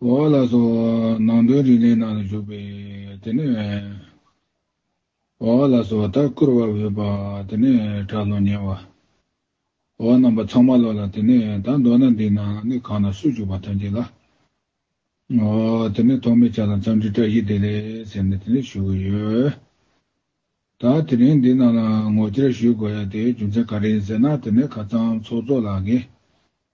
གོ་བ་ལ་སོགས་ནང་དོན་རིགས་ལས་ནང་དུ་འཇུག་པས་དེ་ནི་འོག་ལ་སོགས་ལྟར་བསྐུར་བར་འོས་པ་དེ་ནི་གྲགས་ལོ་ཉེ་བ། འོག་རྣམ་པ་ཚང་མ་ལོག་ལ་དེ་ནི་ད་མདོར་ན་འདི་ན་ནི་གང་དང་སུ་འཇུག་པ་ཐམས་ཅད་ལ། ངོ། དེ་ནི་ཐོག་མའི་ཆ་དང་མཚམས་འདྲི་སྒྲ་ཡིག་བདེ་ལེགས་ཟེར་ནས་དེ་ནི་ཞུ་གི་ཡོད། ད་དེ་རིང་འདི་ནང་ལ་ངོ་བཅར་ཞུས་དགོས་ཡ་དེའི་རྒྱུ་མཚན་ག་རེ་ཡིན་ཟེར་ན་དེ་ནི་ཁ་ཚང་ཚོགས་གཙོ་ལགས་ཀྱིས་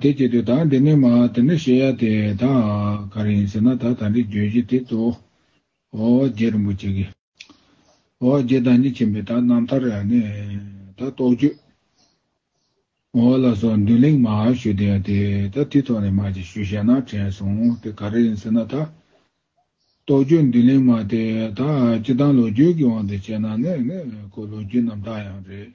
དེ་སྐད་དུ་དང་དེ་ནས་མ་དེ་འདྲ་བཤད་ཡ་དེ་དང་ག་རེ་ཡིན་ཟེར་ན་ད་ད་འདྲི་རྗོད་གཞི་དེ་གཙོ་བོ་རྗེ་རིན་པོ་ཆེ་གི། རྗེ་བདག་ཉིད་ཆེན་པོའི་དག་རྣམ་ཐར་ནས་ད་རྟོགས་བརྗོད། ལ་སོགས་འདུན་གླེང་མ་ཞུ་དེ་ཡང་དེ་ད་དེ་ཐོག་ནས་མ་ཅིག་ཞུ་བཤད་ན་དྲན་སོང་དེ་ག་རེ་ཡིན་ཟེར་ན་ད་རྟོགས་བརྗོད་འདུན་གླེང་མ་དེ་དག་སྤྱི་དང་ལོ་རྒྱུས་ཀྱི་དབང་དུ་བྱས་ན་ནི་ནི་ཁོ་ལོ་རྒྱུས་རྣམ་དག་ཡང་རེད།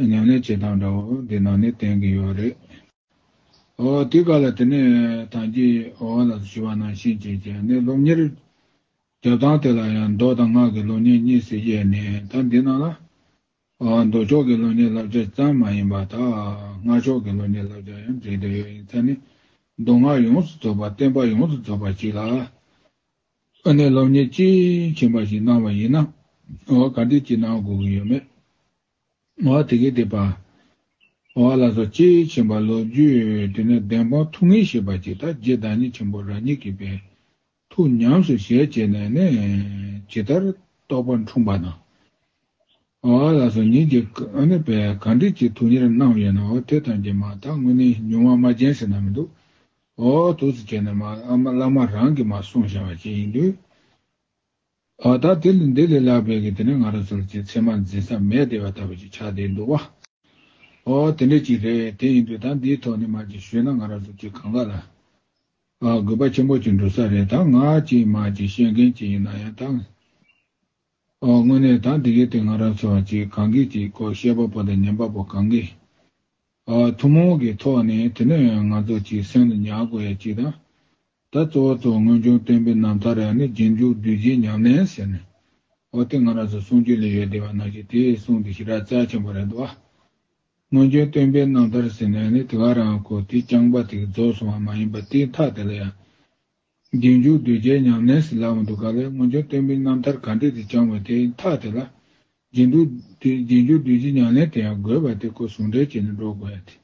ནང་ནས་བྱེད་སྟངས་འདྲ་བོ་འདི་ནང་ནས་བསྟན་གི་ཡོད་རེད། ཨོ་དེ་ག་ལ་དེ་ནས་ཐང་ཅིག་ཨོ་ལ་སུ་ཞུ་བ་ནང་བཞིན་བྱས་བྱས་ནས་སློབ་གཉེར། རྒྱབ་སྟངས་དེ་ལ་ཡང་མདོག་དང་ངག་གི་སློབ་གཉེར་གཉིས་སུ་དབྱེ་ནས་ད་འདི་ནང་ལ། ཨོ་མདོ་ཕྱོགས་ཀྱི་སློབ་གཉེར་བསླབ་བྱ་ཙམ་མ་ཡིན་པ་ད་ངག་ཕྱོགས་ཀྱི་སློབ་གཉེར་བསླབ་བྱ་ཡང་འབྲེལ་འདོད་ཡོད་ཡིན་ཚ་ནས་མདོ་སྔགས་ཡོངས་སུ་རྫོགས་པ་བསྟན་པ་ཡོངས་སུ་རྫོགས་པ་ཞིག་ལ། ཨོ་ནས་སློབ་གཉེར་དཔྱིས་ཕྱིན་པ་ཞིག་གནང་བ་ཡིན་ན་ཨོ་ག་འདི་གཅིག་གནང་དགོས་གི་ཡོད་མེད། ཨོ་ཨ་དེ་གའི་དེ་པ། ཨོ་ཨ་ལ་སོགས་ཅེས་བྱ་བ་ལོ་རྒྱུས་དེ་ནི་བདེན་དཔང་ཐུགས་ངེས་ཞེས་པ་ཅིག་དང་རྗེ་བདག་ཉིད་ཆེན་པོ་རང་ཉིད་ཀྱིས་པའི་ཐུགས་ཉམས་སུ་བཞེས་བྱས་ནས་ནི་ཇི་ལྟར་རྟོགས་པ་འཁྲུངས་པ་དང། ཨོ་ཨ་ལ་སོགས་ཉིད་ཀྱི་བས་ག་འགྲིག་ཅིག་ཐུགས་གཉེར་གནང་བ་ཡོད་ནའོ་དེ་དང་རྗེས་མ་དག་དངོས་ནི་ཉུང་བ་མ་རྗེན་ཟེར་ན་མི་འདུག་ཨོ་ཨོ་ཐུགས་སུ་བཅས་ནས་མ་བླ་མ་རང་གིས་མ་གསུངས་བྱ་བ་ཅི་ཡིན་དུས། བ་དག་དེ་ལས་འདི་ལས་ལྷག་པའི་གི་དེ་ནི་ང་རང་ཚོར་ཅི་ཚད་མ་འཛིན་ས་མེད་བདེ་བ་ལྟ་བུ་ཅིག་ཆགས་བསྡད་འདུག་བ། ཨོ་དེ་འདྲ་ཅིག་རེད་དེ་ཡིན་དུས་ད་འདིའི་ཐོག་ནས་མ་ཅིག་ཞུས་ན་ང་རང་ཚོ་ཅི་གང་ག་ལ། ཨ་དགོས་པ་ཆེན་པོ་ཅིག་འགྲོ་ས་རེད་ད་ང་ཅིག་མ་ཅིག་བཤད་མཁན་ཅིག་ཡིན་ན་ཡང་ད། ཨོ་དངོས་གནས་ད་འདི་གི་དེ་ང་རང་ཚོ་ཅི་གང་གིས་ཅིག་ཀོ་བཤད་པ་པོ་དང་ཉན་པ་པོ་གང་གིས། ཐུན་མོང་གི་ཐོག་ནས་དེ་ནི་ང་ཚོ་གཅིག་སེམས་ལ་ཉར་དགོས་ཡ་གཅིག་དང། ད་གཙོ་བོ་ཐོག་སྔོན་བྱུང་སྟོན་པའི་རྣམ་ཐར་ཡང་ནི་རྗེས་འཇུག་བདུད་རྗེའི་ཉམས་ལེན་ཟེར་ནས། འོ་དེ་ང་རང་ཚོ་གསུང་རྒྱུ་ལས་ཡོད་བསྡད་པ་ན་ཞིག་དེ་གསུང་དེ་ཞིག་ར་རྩ་ཆེན་པོ་རེད་འདུག་ཨ། སྔོན་བྱུང་སྟོན་པའི་རྣམ་ཐར་ཟེར་ནས་ནི་དེ་ག་རང་གོ་དེ་རྐྱང་པ་དེ་རྫོགས་སོང་བ་མ་ཡིན་པ་དེའི་མཐའ་དེ་ལ་ཡང། རྗེས་འཇུག་གདུལ་བྱའི་ཉམས་ལེན་ཟེར་ལབ་མ་འདུག་ག་ལེར་སྔོན་བྱོན་བསྟན་པའི་རྣམ་ཐར་ག་འདྲས་དེ་བསྐྱངས་པ་དེ་ཐག་དེ་ལ། རྗེས་འཇུག་རྗེས་འཇུག་གདུལ་བྱའི་ཉམས་ལེན་དེ་ཡང་དགོས་པ་དེ་ཁོ་ཟུང་འབྲེལ་བྱས་ནས་འགྲོ་དགོས་ཡ་དེ།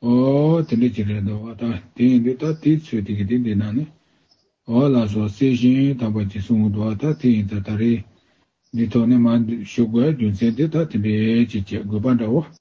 ཨོ། དེ་འདྲ་ཅིག་རེད་འདོད། ད་དེ་ཡིན་དུས་ད་དེའི་ཚོད་དེ་གི་དེ་འདི་ན་ནི། ཨོ་ལ་སོགས་བསྲེས་ཤིང་དམ་པ་གྱིས་གསུང་ངོ་འདོད་ད་དེ་ཡིན་ད་ད་རེད། འདི་ཐོག་ནས་མ་ཞུ་དགོས་རྒྱུ་མཚན་དེ་ད་དེ་འདྲས་ཅིག་བྱེད་དགོས་པ་འདྲ་བོ།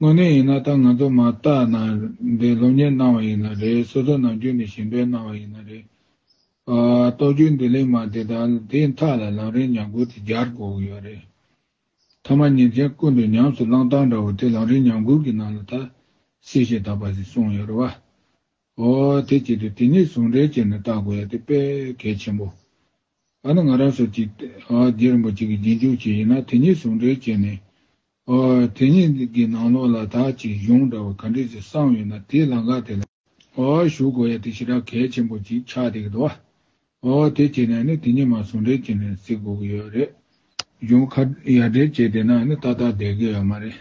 དངོས་གནས་ཡིན་ན་ད་ང་ཚོ་མ་བརྟག་ན་རེད་སློབ་གཉེར་གནང་བ་ཡིན་ན་རེད་སོ་སོ་ནང་ཁྱོན་ནས་ཞིང་པས་གནང་བ་ཡིན་ན་རེད། རྟོག་དཔྱོད་འདི་ལེགས་མ་དེ་དག་དེ་མཐའ་ལ་ལང་རིང་ཉམས་རྒུད་དེ་འགྱར་དགོས་ཀྱི་ཡོད་རེད། ཐ་མ་ཉིན་མཚན་ཀུན་ཏུ་ཉམས་སུ་བླང་སྟངས་འདྲ་བོ་དེ་ལང་རིང་ཉམས་རྒུད་ཀྱི་ནང་ལ་ད་སྲིད་ཞེ་ད་པ་ཞིག་གསུངས་ཡོད་རེད་བ། ཨོ་དེ་ཅི་འདུག་དེ་གཉིས་ཟུང་འབྲེལ་བྱས་ནས་བརྟག་དགོས་ཡ་དེ་དཔེ་གལ་ཆེན་པོ། ཨ་ན་ང་རང་སོ་ཅིག་རྗེ་རིན་པོ་ཆེ་གི་རྗེས་འཇུག་ཅིག་ཡིན་ན་དེ་གཉིས་ཟུང་འབྲེལ་བྱས་ནས་དེ་ཉིད་ཀྱི་ནང་ལོགས་ལ་དག་ཅིང་གཞུང་འདྲ་བ་ག་འདྲས་ཀྱི་གསང་ཡོད་ན་དེའི་ལང་ཀ་དེ་ལ། ཞུགས་དགོས་ཡ་དེ་ཞེ་དྲག་གལ་ཆེན་པོ་ཅིག་ཆགས་བསྡད་ཀྱི་འདུག་བ། དེ་བྱས་ནས་ནི་དེ་ཉིད་མ་ཟུང་འབྲེལ་བྱས་ནས་གཟིགས་དགོས་ཀྱི་ཡོད་རེད། གཞུང་ཁ་ཡ་འབྲེལ་བྱས་བསྡད་ན་ནི་ཏག་ཏག་བསྡད་ཀྱི་ཡོད་མ་རེད།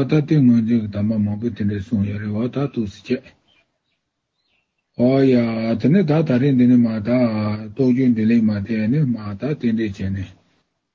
ད་ལྟའི་ངོས་འཛིན་གྱི་དམ་པ་མང་པོས་དེ་འདྲས་གསུངས་ཡོད་རེད་བ་ད་ཐུགས་གཟིགས་བྱས། ཡ་དེ་ནི་ད་ད་རེས་འདི་ནི་མ་དག་རྟོགས་བརྗོད་འདི་ལས་མ་དེ་ནི་མ་དག་དེ་འདྲས་བྱས་ནས་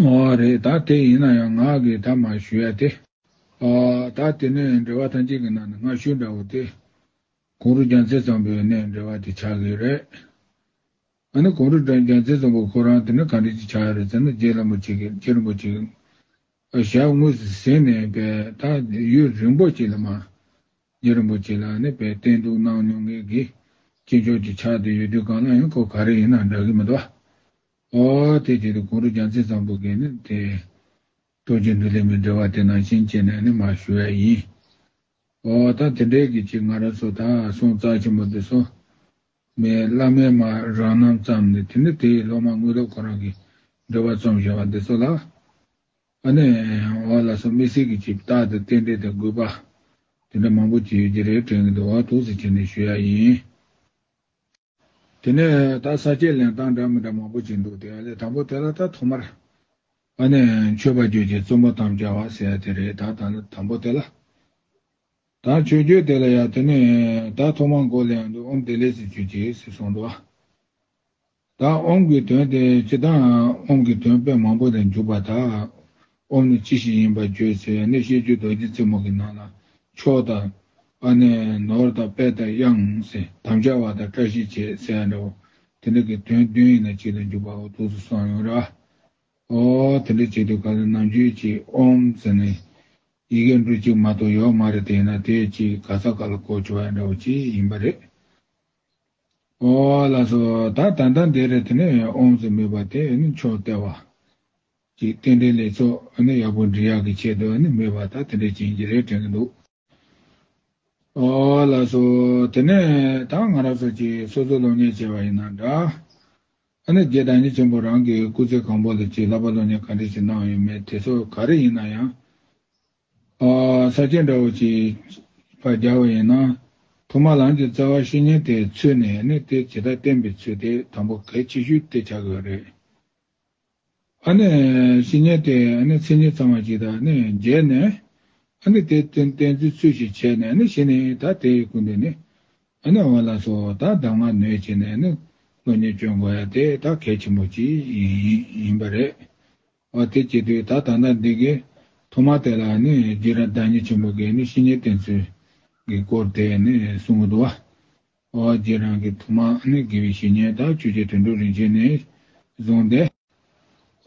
ངོ་བོ་རེད་ད་དེ་ཡིན་ན་ཡང་ངག་གིས་ད་མ་ཞུ་ཡ་སྟེ། ད་དེ་ནས་འབྲེལ་བ་ཐམས་ཅད་ཀྱི་ནང་ནས་ངག་ཞུ་འདྲ་བོ་དེ། གུང་རུ་རྒྱ་མཚན་ཚོམ་བུའི་ནས་འབྲེལ་བ་དེ་ཆགས་ཀྱི་རེད། ད་ནི་གུང་རུ་རྒྱ་མཚན་ཚོམ་བུ་ཁོ་རང་དེ་ནས་གང་འབྲེལ་གྱི་ཆགས་ཡ་རེད་ཟེར་ན་རྗེ་བླ་མ་གཅིག་གིས་རྗེ་རིན་པོ་ཆེ་གི་ཞབས་དངོས་སུ་ཟིན་ནས་པས་ད་ཡུལ་རིན་པོ་ཆེ་ལ་མ། རྗེ་རིན་པོ་ཆེ་ལ་ནི་པས་བསྟེན་གཏུགས་གནང་མྱོང་མཁན་གྱི་སྐྱེས་མཆོག་ཅིག་ཆགས་དེ་ཡོད་དུས་གང་ལ་ཡང་ཁོ་ག་རེ་ཡིན་ན་འདྲ་གི་མི་འདུག་ཨ། ཨ་དེ་བྱས་ཏེ་གུ་རུ་རྒྱ་མཚན་ཚངས་བུག་གིས་ནི་དེ། རྡོ་རྗེ་འདུ་ལས་མི་འབྲལ་བ་དེ་ནང་བཞིན་བྱས་ནས་ནི་མ་ཞུ་བས་ཡིན། ཨོ་ད་དེ་འདྲའི་གི་ཅི་ང་ར་སོ་ད་སོང་རྩ་ཆེན་པོ་འདི་སོ། མེ་བླ་མའི་མ་རང་རྣམ་བརྩམས་ནས་དེ་ནི་དེའི་སློབ་མ་དངོས་སློབ་ཁོ་རང་གི་འབྲེལ་བ་རྩོམ་བཞེངས་བ་འདི་སོ་ལ། ཨ་ནི་ཨོ་ལ་སོ་མི་སྲིད་གི་ཅི་བདག་དེ་རྟེན་འབྲེལ་དེ་དགོས་པ། དེ་འདྲ་མང་པོ་ཅི་ཡོད་ཀྱི་རེ་དྲན་གི་འདུག་ཨོ་ཐུགས་སུ་ཆེ་ནས་ཞུ་ཡ་ཡིན། དེ་ནས་ད་ས་སྐྱའི་ལེན་སྟངས་འདྲ་མི་འདྲ་མང་པོ་བྱེད་འདུག་དེ་བ་ལས་དང་པོ་དེ་ལ་ད་ཐོག་མར། ཨ་ནེ། མཆོད་པ་རྒྱུད་ཀྱི་བཙུན་མོ་དམ་བཅའ་བ་ཟེར་དེ་རེད་ད་ད་ནི་དང་པོ་དེ་ལ། ད་མཆོད་རྒྱུད་དེ་ལ་ཡ་དེ་ནས་ད་ཐོག་མར་མགོ་ལས་འདུག་ཨོམ་དེ་ལས་ཟེར་རྒྱུད་ཀྱི་ཟེར་སོང་འདུག་ཨ། ད་ཨོམ་གྱི་དོན་དེ་ཅི་ད་ཨོམ་གྱི་དོན་དཔེ་མང་པོ་ལས་འཇུག་པ་ད། སྤོམ་ནི་ཅི་ཞིག་ཡིན་པ་བརྗོད་ཚེ་ཡང་ནི་བཤད་རྒྱུད་རྡོ་རྗེ་རྩེ་མོ་གི་ནང་ན་ཕྱོགས་དང། ཨ་ནེ། ནོར་དང་དཔལ་དང་དབྱངས། དམ་བཅའ་བ་དང་བཀྲ་ཤིས་བྱེད་ཟེར་ཡ་འདྲ་བོ། དེ་འདྲ་གི་དོན་བདུན་ཡིན་ན་གཅིག་ལ་འཇུག་པའོ་ཐུགས་སུ་སོང་ཡོང་ར། ཨོ། དེ་འདྲ་བྱེད་དུས་ག་ལ་ནམ་རྒྱུན་གྱི་ཨོམ་ཟེར་ནས། ཡི་གེ་འབྲུ་གཅིག་མ་གཏོགས་ཡོག་མ་རེ་དེ་ཡིན་ན་དེས་ཅི་ག་ཚ་ག་ལ་གོ་ཆོག་ཡ་འདྲ་བོ་ཅི་ཡིན་པ་རེད། ཨོ། ལ་སོ། ད་ད་ད་འདི་རེད་དེ་ནས་ཨོམ་ཟེར་མི་བ་དེ་ནི་མཆོག་སྟེར་བ། ཀྱི་རྟེན་འབྲེལ་ལས་ཚོགས་ནི་ཡག་པོ་འབྲི་ཡག་གི་ཆེད་དུ་ནི་མེད་པ་ད་དེ་འདྲའི་རྐྱེན་གྱིས་རེད་དྲན་གྱི་འདུག་ལ་སོ། དེ་ནས་ད་ང་རང་ཚོ་ཀྱིས་སོ་སོ་སློབ་གཉེར་བྱས་པ་ཡིན་ན་འདྲ། ནི་རྒྱའི་བདག་ཉིད་ཆེན་པོ་རང་གི་སྐུ་ཚེ་གང་པོ་ལ་ཅིག་ལབ་པ་སློབ་གཉེར་ག་འདྲས་ཅིག་གནང་ཡོད་མེད་དེ་ཚོ་ག་རེ་ཡིན་ན་ཡང། ས་སྐྱེས་འདྲ་བོ་ཅིག་བྱིས་པ་རྒྱག་པ་ཡིན་ན། ཐོག་མར་རང་གི་རྩ་བ་བཤེས་གཉེན་དེ་ཚུད་ནས་ནི་དེ་ཇི་ལྟར་བསྟེན་པའི་ཚུལ་དེ་དང་པོ་གལ་ཆེ་ཤོས་དེ་བྱ་དགོས་པ་རེད། ཤི་ཉེན་ཏེ་ཚེ་ཉེན་ཚང་བ་ཞིག་དང་མཇལ་ནས། དེ་བརྟེན་བརྩོན་ཚུལ་ཞིག་བྱས་ནས་ཤི་ནས་ད་དེའི་སྐུ་འདི་ནི། འོ་ན་སོ་ད་གདམས་ངག་ནོས་བྱས་ནས་བློ་ཉེས་སྐྱོན་དགོས་ཡ་དེ་ད་གལ་ཆེན་པོ་ཅིག་ཡིན་པ་རེད། འོ་དེ་བྱེད་དུས་ད་ད་ལྟ་འདི་གའི་ཐོག་མ་དེ་ལ་རྗེས་རབས་བདག་ཉིད་ཆེན་པོ་གིས་ཤི་ཉེན་བརྟེན་ཚུལ་གྱི་སྐོར་དེ་གསུངས་འདུག་བ། ཨོ་རྒྱན་རང་གི་ཐུགས་མ་ནི་དགེ་བའི་བཤེས་གཉེན་དག་བཅུ་ཆའི་དུད་འགྲོ་རིན་ཆེན་ནས་བཟུང་སྟེ།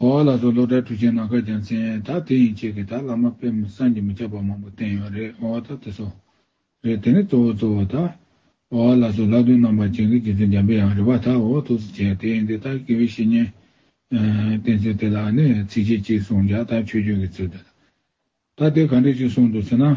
ཨོ་ལ་སོགས་སློབ་གྲྭའི་གྲུ་ཆེན་ནང་ཁ་རྒྱ་མཚན་དག་དེ་ཡིན་ཆེད་ཀྱི་དག་བླ་མ་དཔེ་མི་སངས་ཀྱིས་མི་ཁྱབ་པ་མང་པོ་བསྟན་ཡོད་རེད་ཨོ་ད་དེ་སོགས་རེད་དེ་ནས་གཙོ་བོ་གཙོ་བོ་དག་ཨོ་ལ་སོགས་ལྷག་དོན་རྣམ་པར་བྱིན་གྱིས་རྗེ་བཙུན་འཇམ་པའི་ཡང་རི་བ་དག་ཨོ་ཐུགས་སུ་ཆེ་དེ་ཡིན་དེ་དག་དགེ་བའི་བཤེས་གཉེན། བསྟན་ཚུལ་དེ་ལ་ནི་ཚིགས་བཅད་གཅིག་གསུངས་ཀྱང་དག་ཆོས་སྤྱོད་ཀྱི་ཚུལ་དེ་དག་དེ་ག་འདྲས་ཅིག་གསུངས་འདུག་ཟེར་ན།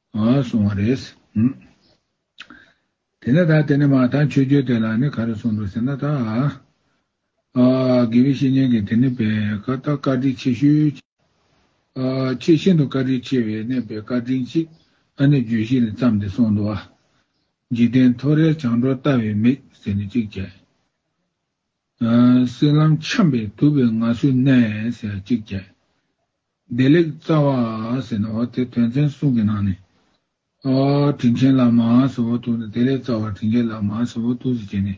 ཨ་སོང་བ་རེད། དེ་ནས་ད་དེ་ནས་མ་ཐང་ཆོས་རྒྱུད་དེ་ལ་ནི་ག་རེ་གསུངས་འདུག་ཟེར་ན་ད། དགེ་བའི་བཤེས་གཉེན་གྱི་དེ་ནི་བས་ཁ་བཏགས་བཀའ་དྲིན་ཆེ་ཞུ། ཁྱེད་ཤིན་ཏུ་བཀའ་དྲིན་ཆེ་བས་ནས་བས་བཀའ་དྲིན་ཅིག་ཨ་ནི་བརྗོད་གཞི་ལས་བརྩམས་ཏེ་གསུངས་འདུག་ཨ། འཇིག་རྟེན་ཐོ་རེག་བྱང་འགྲོ་ལྟ་བའི་མིག་ཟེར་ནས་ཅིག་བྱས། སྲིད་ལམ་འཁྱམས་པའི་དུབ་པའི་ང་སུ་གནས་ཟེར་ཅིག་བྱས། བདེ་ལེགས་རྩ་བ་ཟེར་ནའོ་དེ་དོན་ཚན་གསུམ་གྱི་ནང་ནས། དྲིན་ཆེན་ལ་མ་སོ་བོ་ཏུ་ནི་བདེ་ལེགས་རྩ་བ་དྲིན་ཆེན་ལ་མ་སོ་བོ་ཏུ་ཟེར་གྱི་ནས།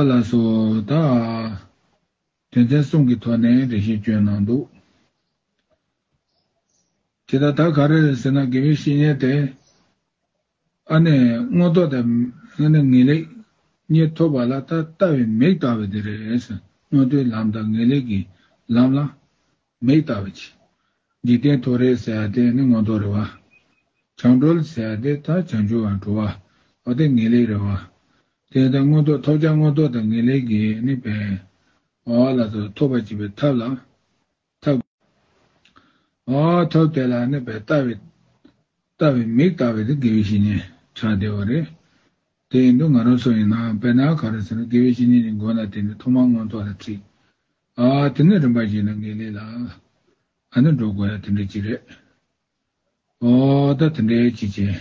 ལ་སོ། ད། དོན་ཚན་གསུམ་གྱི་ཐོག་ནས་འགྲེལ་བཤད་བསྐྱོན་གནང་འདུག་དེ། ད་ད་ག་རེ་རེད་ཟེར་ན་དགེ་བའི་བཤེས་གཉེན་དེ། ཨ་ནེ། སྔོ་ལྟོ་དང། ཨ་ནེ། ངེས་ལེགས། གཉིས་ཐོབ་པ་ལ་ད་ལྟ་བའི་མིག་ལྟ་བ་དེ་རེད། སྔོན་ཐོའི་ལམ་དང་ངེས་ལེགས་ཀྱི་ལམ་ལ། མིག་ལྟ་བ་གྱིས། འཇིག་རྟེན་ཐོ་རེ་ཟེར་བ་དེ་ནི་སྔོན་ཐོ་རེད་བ། བྱང་གྲོལ་ཟེར་བ་དེ་ད་བྱང་ཆུབ་བར་འགྲོ་བ། བ་དེ་ངེས་ལེགས་རེད་བ། དེ་ལྟར་སྔོན་ཐོ་ཐོབ་བྱ་སྔོན་ཐོ་དང་ངེས་ལེགས་ཀྱིས་ནི་བས། བ་ལ་ད་ཐོབ་པར་བྱེད་པའི་ཐབས་ལ། ཐབས། ཐབས་དེ་ལ་ནི་བལྟ་བའི། ལྟ་བའི་མིག་ལྟ་བའི་དེ་དགེ་བའི་བཤེས་གཉེན་གྲགས་བདེ་བ་རེད། དེ་ཡིན་དུས་ང་རང་སུ་ཡིན་ནའང་བལྟ་ན་ག་རེ་ཟེར་ན་དགེ་བའི་བཤེས་གཉེན་གྱི་མགོ་ན་དེ་ནི་ཐོག་མར་མངོན་རྟོགས་ལ་ཁྲིད། དེ་ནས་རིམ་པར་ཞིག་ན་དགེ་ལེགས་ལ། ཨ་ནི་འགྲོ་དགོས་ཡ་དེ་འདྲའི་ཅི་རེད། ད་དེ་འདྲའི་ཅི་བྱེད།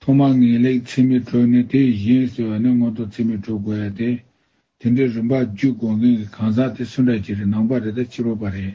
ཐོག་མར་ངེས་ལེགས་ཚིག་མི་གྲོལ་ནི་དེ་ཡི་གཞན་ཟེར་བ་ནི་སྔོན་ཐོག་ཚིག་མི་གྲོལ་དགོས་ཡ་སྟེ། དེ་འདྲའི་རིམ་པ་བརྒྱུད་དགོས་མཁན་གྱི་གང་ཟག་དེ་སུ་འདྲ་ཅི་རེད་ནང་པ་རེད་ད་ཕྱི་རོལ་པ་རེད།